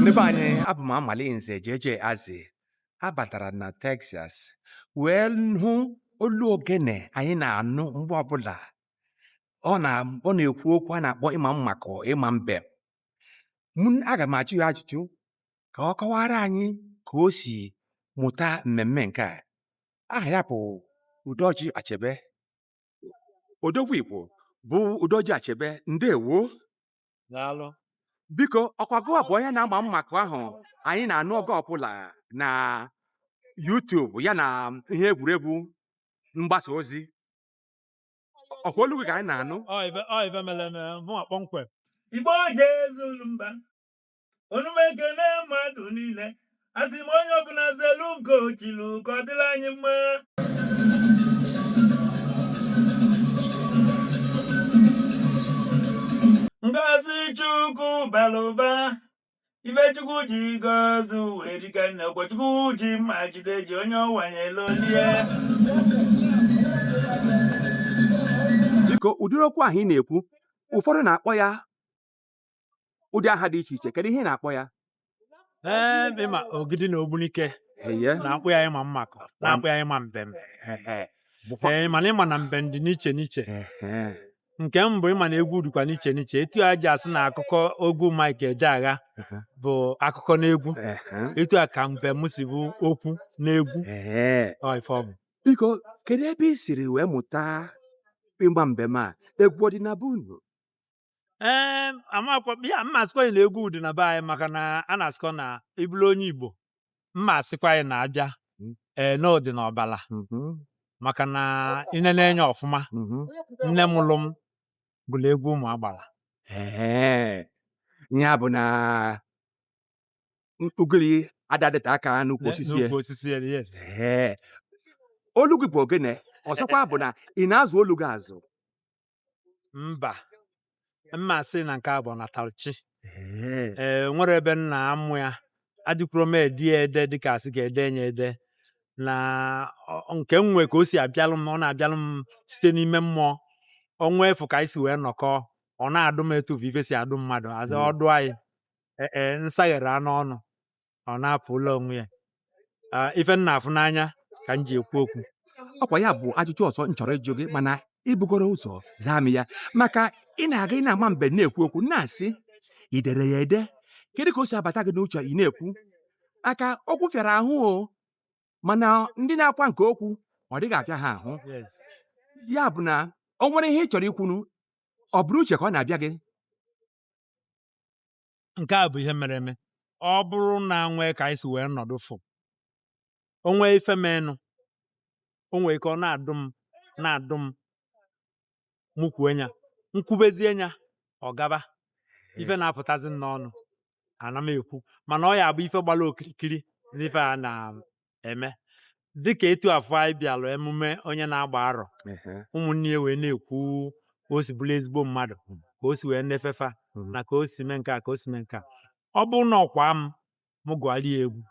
ndị be anyị abụ m Amalinze JJ Azi abatara na Texas wee hụ olu ogene anyị na-anụ mgbe ọbụla ọ na-ekwu okwu a na-akpọ ịma mmakọ ịma mbem aga m ajụ ya ajụjụ ka ọ kọwara anyị ka o si mụta mmemme nke a aha ya bụ Udoji Achebe odogwu Igbo bụ Udoji Achebe ndewo daalụ biko ọkwa gụwa bụ onye na-agba mmakọ ahụ anyị na-anụ oge ọbụla na YouTube ya na ihe egwuregwu mgbasa ozi ọkwa olu gị ka anyị na-anụ Ọ ife ọ ife mere eme mụnwa kpọmkwem Igbo jezuru mba ọnụ m ekene mmadụ niile asị m onye ọbụla zelu nke ochilu ka ọ dịrị anyị mma ngozi chukwu balụ ụba ife chukwu ji gozi ụwa erika nne ọ bụ chukwu ji mma jide ji onye ọ wanyelụ o lie biko ụdịrị okwu ahụ ị na-ekwu ụfọdụ na-akpọ ya ụdị aha dị iche iche kedu ihe ị na-akpọ ya ee ịma ogidi na ogbunike ee na-akpọ ya ịma mmakọ na-akpọ ya ịma mbem ee mana ị ma na mbem dị n'iche n'iche nke m bụ ị ma na egwu dịkwa n'iche n'iche etu e ji asị na akụkọ egwu Mike Ejeagha bụ akụkọ n'egwu etu a ka mbem si bụ okwu n'egwu ọ ife ọ bụ biko kedu ebe ị siri wee mụta ịgba mbem a egwu ọ dị na be unu ee amakwa m ya mma asịkwa gị na egwu dị na be anyị maka na a na-asịkwa na ị bụrụ onye igbo mma asịkwa gị na abịa ee na ọ dị na ọbala Mhm, maka na i nenee anya ọfụma mhm. nne mụrụ m gụrụ egwu ụmụ agbara Ee, ya bụ na ugiri ada adịte aka n'ukwu osisi ya. N'ukwu osisi ya, yes. Ee, olu gị bụ ogene ọzọkwa bụ na ị na-azụ olu gị azụ mba mma asị na nke a bụ natalụ chi Ee. enwerọ ebe m na-amụ ya adịkwuro m ede ya ede dịka asị ka e de ya ede na ọ- nke m nwe ka o si abịalụ m ọ na-abịalụ m site n'ime mmụọ ọnwa efu ka anyị si wee nọkọ ọ na-adụ m etu ife si adụ mmadụ azị Mm. ọdụ anyị ee e, m saghere anụ ọnụ ọ na-apụ ụlọ onwe ya Ah, ife m na-afụ n'anya ka m ji ekwu okwu ọkwa ya bụ ajụjụ ọzọ m chọrọ ịjụ gị mana ibugoro ụzọ zaa m ya maka ị na-aga ị na-ama mbem na-ekwu okwu na-asị i dere ya ede kedu ka o si abata gị n'uche ị na-ekwu maka okwu fịara ahụ o mana ndị na-akwa nke okwu ọ dịghị afịa ha ahụ yes ya bụ na o nwere ihe ị chọrọ ikwunu ọ bụrụ uche ka ọ na-abịa gị nke a bụ ihe mere eme ọ bụrụ na e nwee ka anyị si wee nọdụ fụ o nwee ife menụ o nwee ike ọ na-adụ m na-adụ m mụ kwuo nya m kwubezie nya ọ gaba ife na-apụtazi m n'ọnụ ana m ekwu mana ọ ya-abụ ife gbara okirikiri n'ife a na eme dịka etu afụ anyị bịalụ emume onye na-agba arọ Ehe. ụmụnne ya wee na-ekwu ka o si bụrụ ezigbo mmadụ ka o si wee nefe fa Mhm. na ka o si mee nke a ka o si mee nke a ọ bụrụ na ọkwa m m gụọrọ ya egwu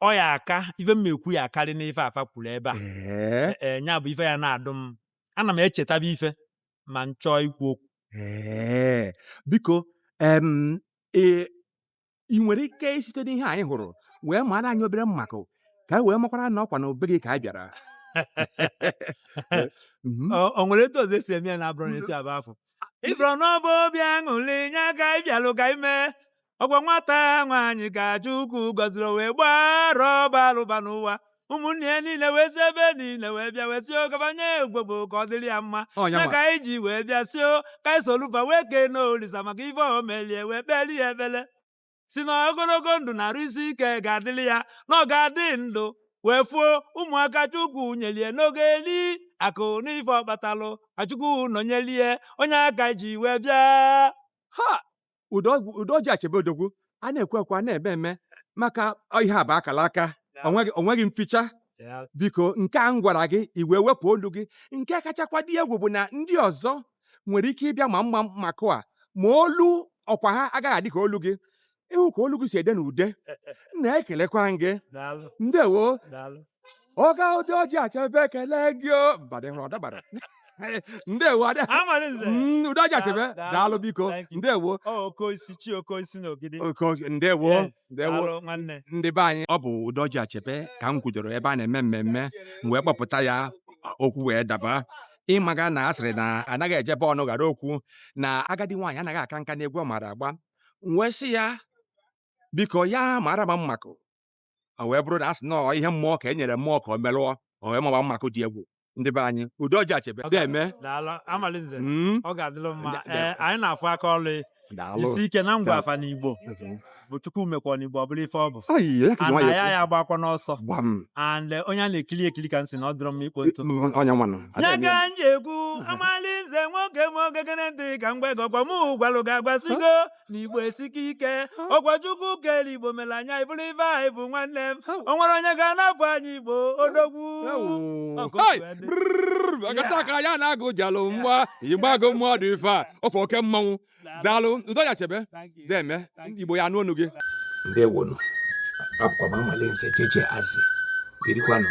ọ ya-aka ife m ekwu ya-akarị na ife fa kwuru ebe a Ee, ee nya bụ ife ya na-adụ m ana m echetaba ife ma m chọọ ikwu okwu ee. biko em, e- ị nwere ike isite n'ihe anyị hụrụ wee mara anyị obere mmakụ ka e wee makwara na ọkwa na be gị ka anyị bịara Mhm. Ọ- o nwere etu ọzọ e si eme ya na abụrụ na etu abụ afọ ọ bụrụ na ọ bụ obi aṅụrị nya ka anyị bịalụ ka ime ọgwa nwata nwaanyị ka chukwu gọziri o wee gbaa arọ ọba alụba n'ụwa ụmụnne ya niile wee si ebe niile wee bịa wee sị o gaba nye ya ogwogwo ka ọ dịrị ya mma Ọ ya ya nwa. ka anyị ji wee bịa sị o ka anyị solu fa wee kene olisa maka ife o melie wee kpeli ya ekpele sị na ogologo ndụ na arụ isi ike ga-adịrị ya na ọ ga-adị ndụ wee fụ ụmụaka chukwu nyelie na ọ ga-eli akụ na ife ọ kpatalụ chukwu nọnyelie ọ nya ka anyị ji wee bịa ha udo udoji achebe odogwu a na-ekwu ekwu a na-eme eme maka ihe a bụ akala aka onweghị onweghị mficha Yeah. biko nke a m gwara gị i wee wepụ olu gị nke kachakwa dị egwu bụ na ndị ọzọ nwere ike ịbịa ma mma mmakụ a ma olu ọkwa ha agaghị adị ka olu gị ị hụ ka olu gị si ede n'ude m na-ekelekwa m gị Daalụ, ndewo daalụ. oga udoji achebe ekele gị o mbadị hụrụ ọdabara ndewo ada Amalinze. Mm, udoji achebe Daalụ, daalụ. daalụ biko Thank you. ndewo Ọ Okeosisi chi Okeosisi na Ogidi. Oke ọjị- ndewo Yes, ndewo daalụ nwanne. ndị be anyị ọ bụ udoji achebe ka m kwudoro ebe a na-eme mmemme m wee kpọpụta ya okwu wee daba ị maga na a sịrị na anaghị eje be ọnụ ghara okwu na agadi nwaanyị anaghị aka nka n'egwu ọ maara agba m wee sị ya biko ya mara ma mmakụ o wee bụrụ na a sị na ọ ihe mmụọ ka e nyere mmụọ ka ọ merụọ o wee maba mmakụ dị egwu ndị be anyị udoji achebe deme daalụ amalinze Mm, ọ ga-adịlụ mma Da- ee anyị na-afụ aka ọlụ daalụ jisi ike na m gwa fa n'igbo bụ chukwu mekwa n'igbo ọ bụrụ ife ọ bụ Ai, ya ka ji ana nwayọọ ya ekwu. ya agbakwa n'ọsọ gbam and eh, onye a na-ekili ekili ka m si na ọ dịrọ mma ikpo ntụ onye nwanụ ya ka m ji ekwu amalinze nwoke m o gekene ntị ka m gwa gị ọkwa mụ gwalụ gị agwa sị gị na igbo esike ike ọkwa chukwu kere igbo mere anyị abụrụ ife anyị bụ nwanne m o nwere onye ga-anapụ anyị igbo odogwu agata aka ya na agụ jalụ mgba igbago mmụọ dị ife a ọ bụ oke mmanwụ daalụ udoji achebe deme igbo ya-anụ ọnụ gị ndewonu abụkwa m amalinze cheche asị birikwanụ